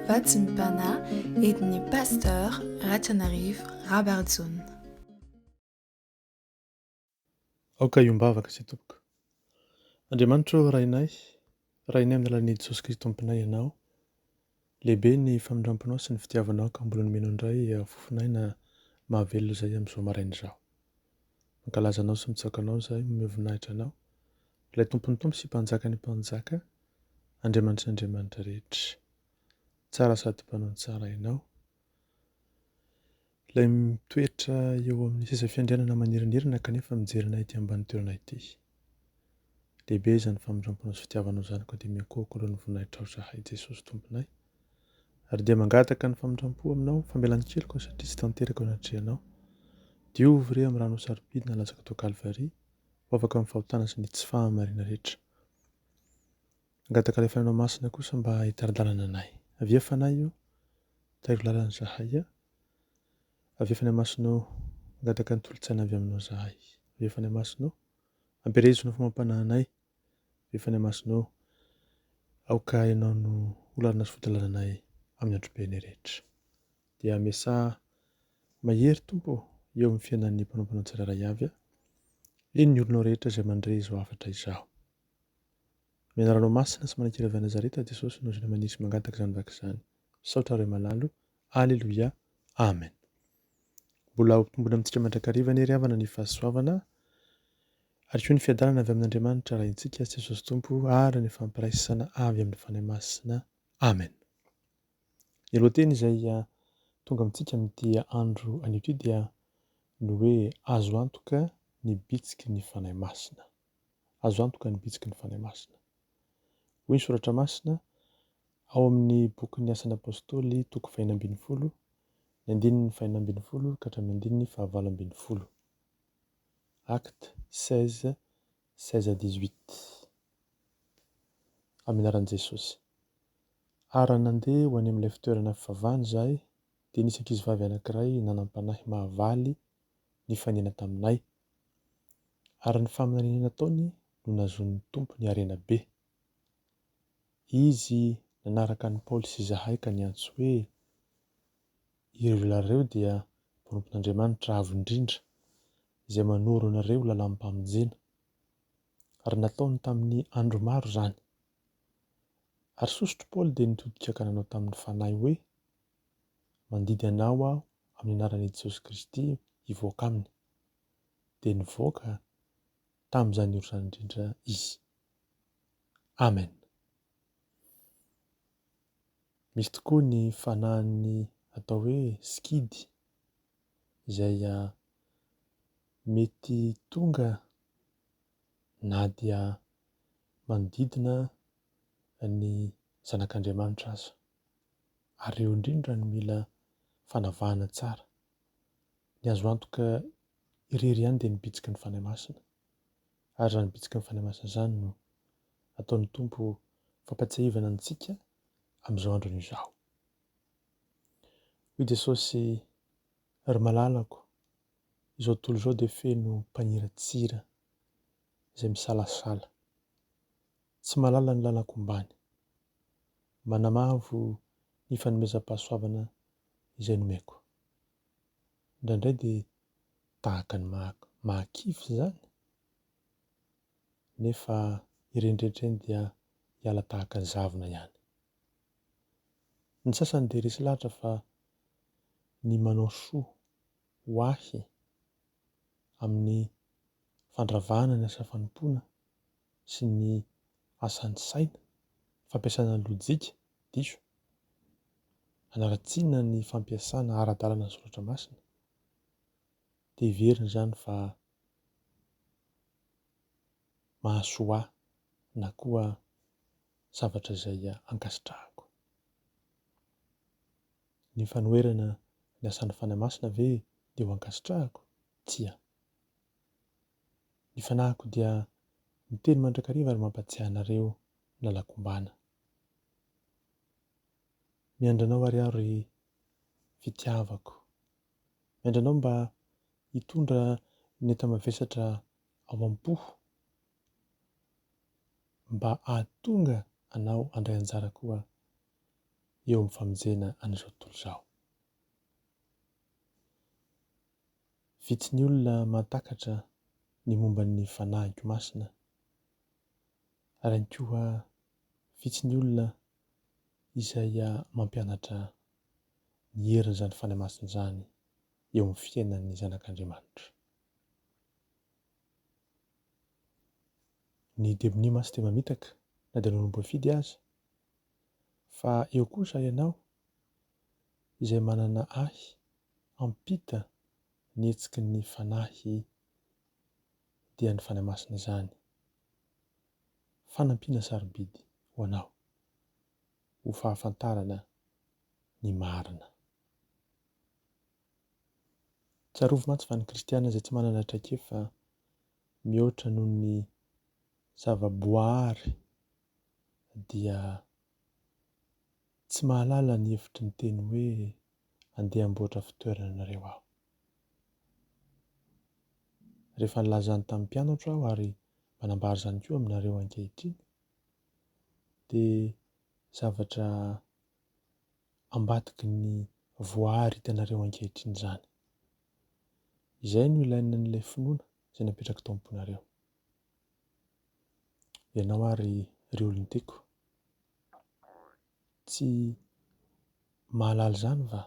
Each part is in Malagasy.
Vatsy ny Pana, edin'ny Pasteur Ratranarivo Rabarijaona. Aoka hiombavaka isika tompoko. Andriamanitra ô Rainay, Rainay amin'ny alalan'i Jesosy Kristy Tomponay Ianao, lehibe ny famindramponao sy ny fitiavanao ka mbola nomenao indray fofon'aina mahavelona izay amin'izao maraina izao. Mankalaza Anao sy mitsaoka Anao izahay, mamehy voninahitra Anao, Ilay Tompon'ny Tompo sy Mpanjakan'ny Mpanjaka, Andriamanitry ny Andriamanitra rehetra. Tsara sady mpanao ny tsara ianao. Ilay mitoetra eo amin'ny seza fiandrianana manelinelina kanefa mijery anay ety ambany toerana ity. Lehibe izany famindramponao sy fitiavanao izany koa dia miankohoka aloha ny voninahitrao izahay Jesosy Tomponay. Ary dia mangataka ny famindrampo aminao, famelan keloka aho satria tsy tanteraka eo anatrehanao. Diovy re amin'ny ranao sarobidy nalatsaka tao Kalvary, ho afaka amin'ny fahotana sy ny tsy fahamariana rehetra. Hangataka ilay Fanahy Masina kosa mba hitari-dalana anay. Avia Fanahy o, tahiro lalana zahay a. Avia Fanahy Masina o, hangataka ny tolon-tsaina avy aminao zahay. Avia Fanahy Masina o, ampielezona ny fomam-panahinay. Avia Fanahy Masina o, aoka ianao no ho lalana sy fodilalanay amin'ny androm-piainay rehetra. Dia amesaha mahery Tompo ô eo amin'ny fiainan'ny mpanomponao tsirairay avy a! Eny ny olonao rehetra izay mandre izao hafatra izao. Ny anaranao masina sy manankiray avy any Nazareta Jesosy no zina manisy mangataka izany vaky izany. Misaotra Ray malalo. Aleloia. Amen. Mbola ho tombony amintsika mandrakariva anie ry havana ny fahasoavana ary koa ny fiadanana avy amin'Andriamanitra Raintsika Jesosy Tompo ary ny fampiraisana avy amin'ny Fanahy Masina. Amen. Ny lohateny izay tonga amintsika amin'ity andro anio ity dia ny hoe azo antoka ny bitsiky ny Fanahy Masina. Azo antoka ny bitsiky ny Fanahy Masina. Hoy ny Soratra Masina ao amin'ny bokin'ny Asan'ny Apostoly toko fahina ambin'ny folo, ny andininy fahina ambin'ny folo ka hatramin'ny andininy fahavalo ambin'ny folo. Acte 16 16 à 18 Amin'ny anaran'i Jesosy. Ary raha nandeha ho any amin'ilay fitoerana fivavahana izahay, dia nisy ankizivavy anankiray nanam-panahy mahavaly nifanena taminay. Ary ny faminaniana nataony no nahazoan'ny Tompo ny harena be. Izy nanaraka an'i Paoly sy izahay ka niantso hoe, Ireo lehilahy ireo dia mpanompon'Andriamanitra avo indrindra, izay manoro anareo lalam-pamonjena. Ary nataony tamin'ny andro maro izany. Ary sosotr'i Paoly dia nitodika ka nanao tamin'ny fanahy hoe, Mandidy anao aho amin'ny anaran'i Jesosy Kristy hivoaka aminy. Dia nivoaka tamin'izany ora izany indrindra izy. Amen. Misy tokoa ny fanahin'ny atao hoe sikidy izay mety tonga na dia manodidina ny zanak'Andriamanitra aza. Ary eo indrindra no mila fanavahana tsara. Ny azo antoka irery ihany dia ny bitsiky ny Fanahy Masina. ary izany bitsiky ny fanamasina izany no ataon'ny Tompo ho fampatsiahivana antsika amin'izao androny izao. Hoy Jesosy, ry malalako, izao tontolo izao dia feno mpaniratsira izay misalasala, tsy mahalala ny lalako ombàny, manamavo ny fanomezam-pahasoavana izay nomeko. indraindray dia tahaka ny mahakivy izany, nefa ireny rehetra ireny dia hiala tahaka ny zavona ihany. Ny sasany dia resy lahatra fa ny manao soa ho ahy amin'ny fandravana ny asa fanompoana sy ny asan'ny saina, fampiasana ny lojika diso, hanaratsiana ny fampiasana ara-dalana ny soratra masina, dia heveriny izany fa mahasoa ahy na koa zavatra izay ankasitrahako. Ny fanoherana ny asan'ny Fanahy Masina ve dia ho ankasitrahako? Tsia. Ny fanahiko dia miteny mandrakariva ary mampatsiahy anareo nalakombana. Miandry anao ary aho ry fitiavako. Miandry anao mba hitondra ny enta-mavesatra ao am-po mba hahatonga anao handray anjara koa eo amin'ny famonjena an'izao tontolo izao. Vitsy ny olona mahatakatra ny momba ny fanahiko masina. ary ihany koa vitsy ny olona izay mampianatra ny herin'izany fanahy masina izany eo amin'ny fiainan'ny zanak'Andriamanitra. Ny demony mantsy dia mamitaka na dia nanomboka fidy aza fa eo kosa ianao izay manana ahy hampita ny hetsiky ny fanahy dia ny Fanahy Masina izany. Fanampiana sarobidy ho anao ho fahafantarana ny marina. Tsarovy mantsy fa ny kristiana izay tsy manana traikefa mihoatra noho ny zava-boaary dia tsy mahalala ny hevitry ny teny hoe andeha hamboatra fitoerana anareo aho. Rehefa nilaza izany tamin'ny mpianatro aho ary manambara izany koa aminareo ankehitriny, dia zavatra ambadiky ny voaàry hitanareo ankehitriny izany. Izay no ilainan'ilay finoana izay napetrak'i Tomponareo. Ianao ary ry olon-tiako. tsy mahalala izany va?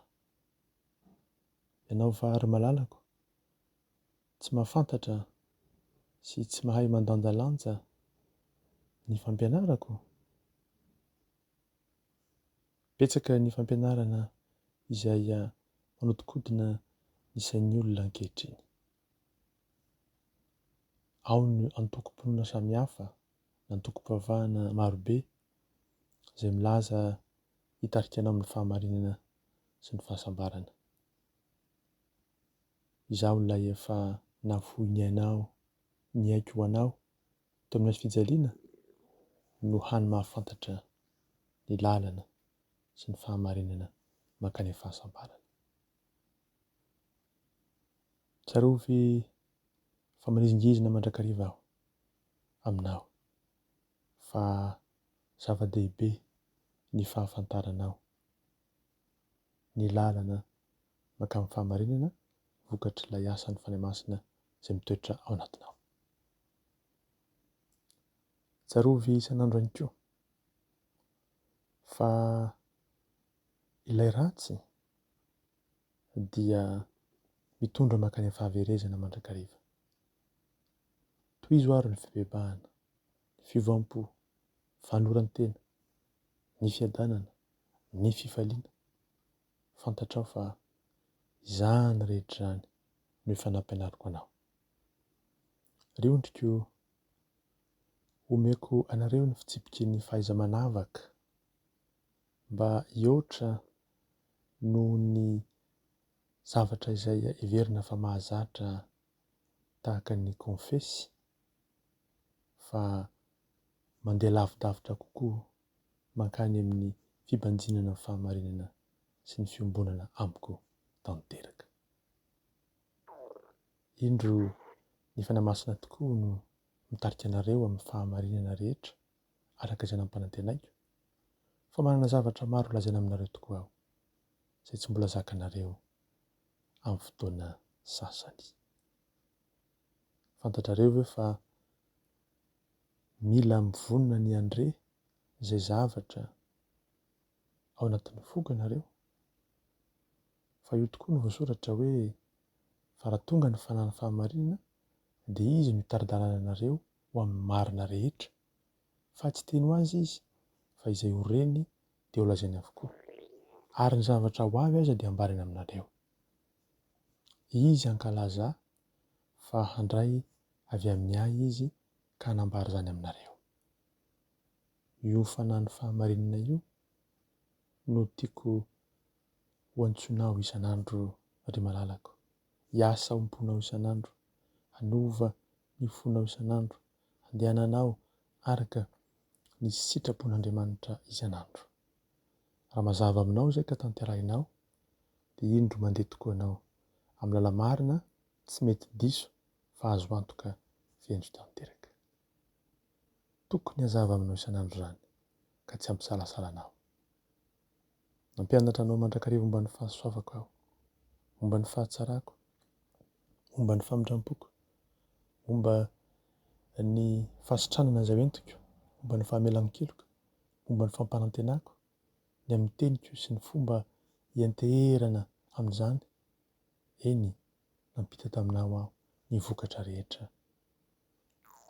Ianao va ry malalako tsy mahafantatra sy tsy mahay mandanjalanja ny fampianarako? Betsaka ny fampianarana izay manodikodina ny sain'ny olona ankehitriny. Ao ny antokom-pinoana samihafa. antokom-pivavahana marobe izay milaza hitarika anao amin'ny fahamarinana sy ny fahasambarana. Izaho ilay efa nafoy ny ainao, ny aiko ho anao teo amin'ny hazofijaliana no hany mahafantatra ny lalana sy ny fahamarinana mankany amin'ny fahasambarana. Tsarovy fa manizingizina mandrakariva aho aminao fa zava-dehibe ny fahafantaranao ny lalana mankamin'ny fahamarinana vokatr'ilay asan'ny Fanahy Masina izay mitoetra ao anatinao. Tsarovy isan'andro ihany koa fa ilay ratsy dia mitondra mankany amin'ny fahaverezana mandrakariva. Tohizo àry ny fibebahana, ny fiovam-po, ny fanoloran-tena, ny fiadanana, ny fifaliana. Fantatrao fa izany rehetra izany no efa nampianariko anao. Ry ondriko o, omeko anareo ny fitsipiky ny fahaiza-manavaka mba hihoatra noho ny zavatra izay heverina fa mahazatra tahaka ny Confessy fa mandeha lavidavitra kokoa mankany amin'ny fibanjinana ny fahamarinana sy ny fiombonana amiko tanteraka. Indro ny Fanahy Masina tokoa no mitarika anareo amin'ny fahamarinana rehetra araka izay nampanantenaiko fa manana zavatra maro holazaina aminareo tokoa aho izay tsy mbola zakanareo amin'ny fotoana sasany. Fantatrareo ve fa mila mivonona ny handre izay zavatra ao anatin'ny foko ianareo? Fa io tokoa no voasoratra hoe, Fa raha tonga ny fananan'ny fahamarinana, dia Izy no hitari-dalana anareo ho amin'ny marina rehetra. fa tsy teny ho azy izy fa izay ho reny dia ho lazainy avokoa, ary ny zavatra ho avy aza dia hambarany aminareo. Izy hankalaza fa handray avy amin'ny Ahy izy ka hanambara izany aminareo. Io fanano fahamarinana io no tiako ho antsoinao isan'andro ry malalako. Hiasa ao am-ponao isan'andro, hanova ny fonao isan'andro, handehananao araka ny sitrapon'Andriamanitra isan'andro. Raha mazava aminao izay ka tanterahinao dia indro mandeha tokoa ianao amin'ny lala-marina tsy mety diso fa azo antoka venty tanteraka. Tokony hazava aminao isan'andro izany ka tsy hampisalasala anao. Nampianatra anao mandrakariva momba ny fahasoavako aho, momba ny fahatsarako, momba ny famindrampoko, momba ny fahasitranana izay entiko, momba ny fahamelan-keloka, momba ny fampanantenako, ny amin'ny teniko sy ny fomba hianteherana amin'izany, eny, nampita taminao aho ny vokatra rehetra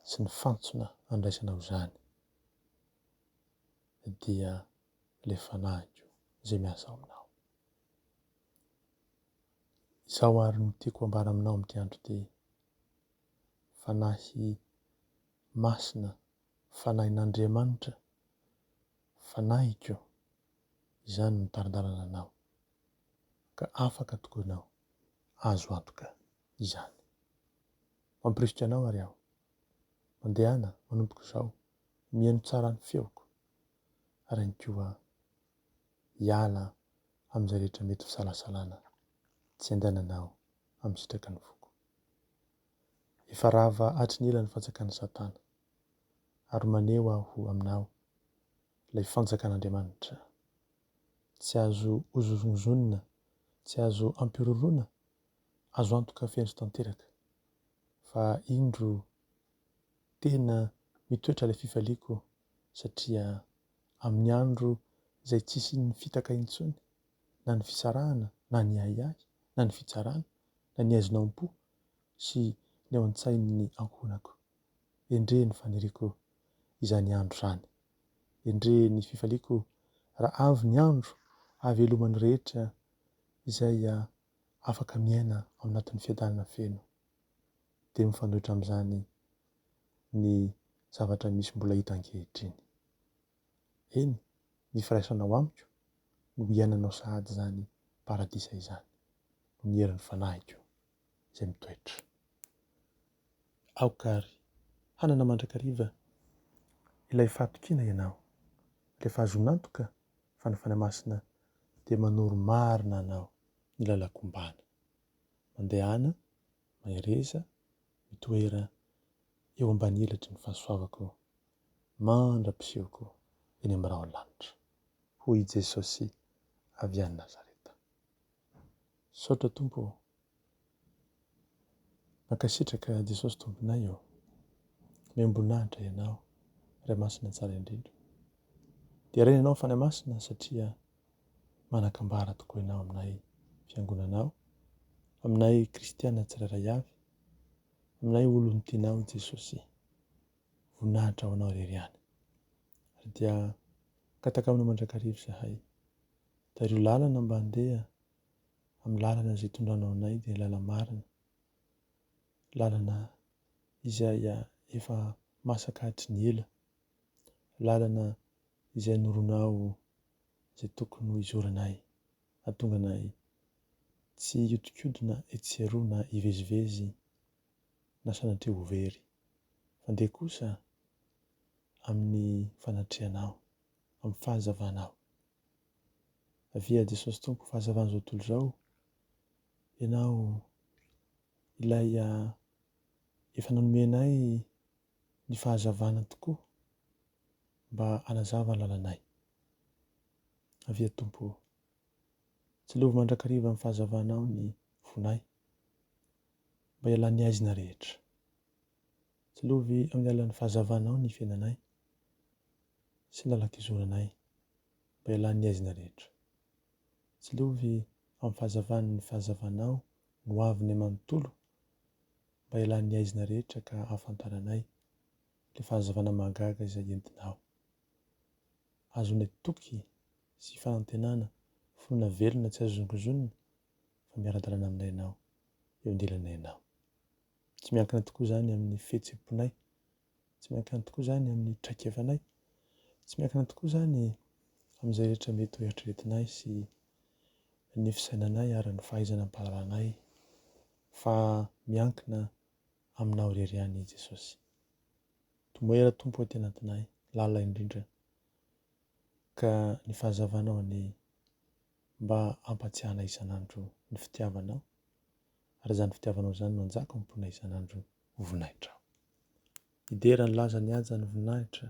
sy ny fantsona andraisanao izany dia le fanahiko zay miasa ao aminao. Izao ary no tiako hambara aminao amin'ity andro ity, Fanahy Masina, Fanahin'Andriamanitra, Fanahiko, izany no mitari-dalana anao, ka afaka tokoa ianao, azo antoka izany. Mampirisika anao ary aho, mandehana manomboka izao, mihaino tsara ny feoko. Rainikoa a! Hiala amin'izay rehetra mety ho salasalana tsy andehanana aho amin'ny sitraky ny foko. Efa rava hatry ny ela ny fanjakan'i Satana, ary maneho aho aminao ilay fanjakan'Andriamanitra. Tsy azo hozongozonina, tsy azo ampihorohoroana, azo antoka feno sy tanteraka, fa indro tena mitoetra ilay fifaliako satria amin'ny andro izay tsy hisian'ny fitaka intsony, na ny fisarahana, na ny ahiahy, na ny fitsarana, na ny haizina ao am-po sy ny ao an-tsain'ny ankohonako. Endrey ny faniriako izany andro izany! Endrey ny fifaliako raha avy ny andro hahaveloman'ny rehetra izay afaka miaina ao anatin'ny fiadanana feno! dia mifanohitra amin'izany ny zavatra misy mbola hita ankehitriny. Eny, ny firaisanao amiko no hiainanao sahady izany paradisa izany, noho ny herin'ny fanahiko izay mitoetra. Aoka àry hanana mandrakariva ilay fahatokiana ianao, rehefa azonao antoka fa ny Fanahy Masina dia manoro marina anao ny lalan-kombàna. mandehana, mahereza, mitoera eo ambany elatry ny fahasoavako mandra-pisehoko eny amin'ny rahon'ny lanitra, hoy i Jesosy avy any Nazareta. Misaotra Tompo ô! Mankasitraka Jesosy Tomponay ô! Miambonanitra Ianao, Ray Masina Tsara Indrindra. Deraina Ianao Fanahy Masina satria manan-kambara tokoa ianao aminay fiangonana ao, aminay kristiana tsirairay avy, aminay olon'ny tianao Jesosy. Voninahitra ho anao irery ihany. Ary dia gataka aminao mandrakariva izahay. Tario lalana mba handeha amin'ny lalana izay itondranao anay dia lala-marina. Lalana izay efa masaka hatry ny ela lalana izay anoronao izay tokony ho izoranay, hahatonga anay tsy hihodinkodina etsy sy eroa na hivezivezy na sanatria ho very, fa dia kosa amin'ny fanatrehanao, amin'ny fahazavanao. Avia Jesosy Tompo fahazavan'izao tontolo izao, Ianao ilay efa nanome anay ny fahazavana tokoa mba hanazava ny lalanay. Avia Tompo o. Tsilovy mandrakariva amin'ny fahazavanao ny fonay mba hialan'ny haizina rehetra. Tsilovy amin'ny alalan'ny fahazavanao ny fiainanay sy ny lalan-kizoranay mba hialan'ny haizina rehetra. Tsilovy amin'ny fahazavan'ny fahazavanao no avy ny manontolo. mba hialan'ny haizina rehetra ka hahafantaranay ilay fahazavana mahagaga izay entinao. Ahazoanay toky sy fanantenana finoana velona tsy azo zongozonina fa miara-dalana aminay ianao, eo andilanay ianao. Tsy miankina tokoa izany amin'ny fihetsem-ponay Tsy miankina tokoa izany amin'ny traikefanay. Tsy miankina tokoa izany amin'izay rehetra mety ho eritreretinay sy ny fisainanay ary ny fahaizana am-pahalalanay fa miankina Aminao irery ihany i Jesosy. Tomoera Tompo aty anatinay, lalina indrindra ka ny fahazavanao anie mba ampatsiahanay isan'andro ny fitiavanao. ary izany fitiavanao izany no hanjaka ao am-ponay isan'andro ho voninahitranao. Hidera ny lazan'ny haja ny voninahitra,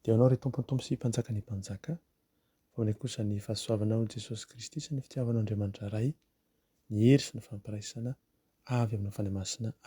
dia ho anao ry Tompon'ny tompo sy Mpanjakan'ny mpanjaka, fa aminay kosa ny fahasoavanao Jesosy Kristy sy ny fitiavanao Andriamanitra Ray, ny hery sy ny fampiraisana avy aminao Fanahy Masina.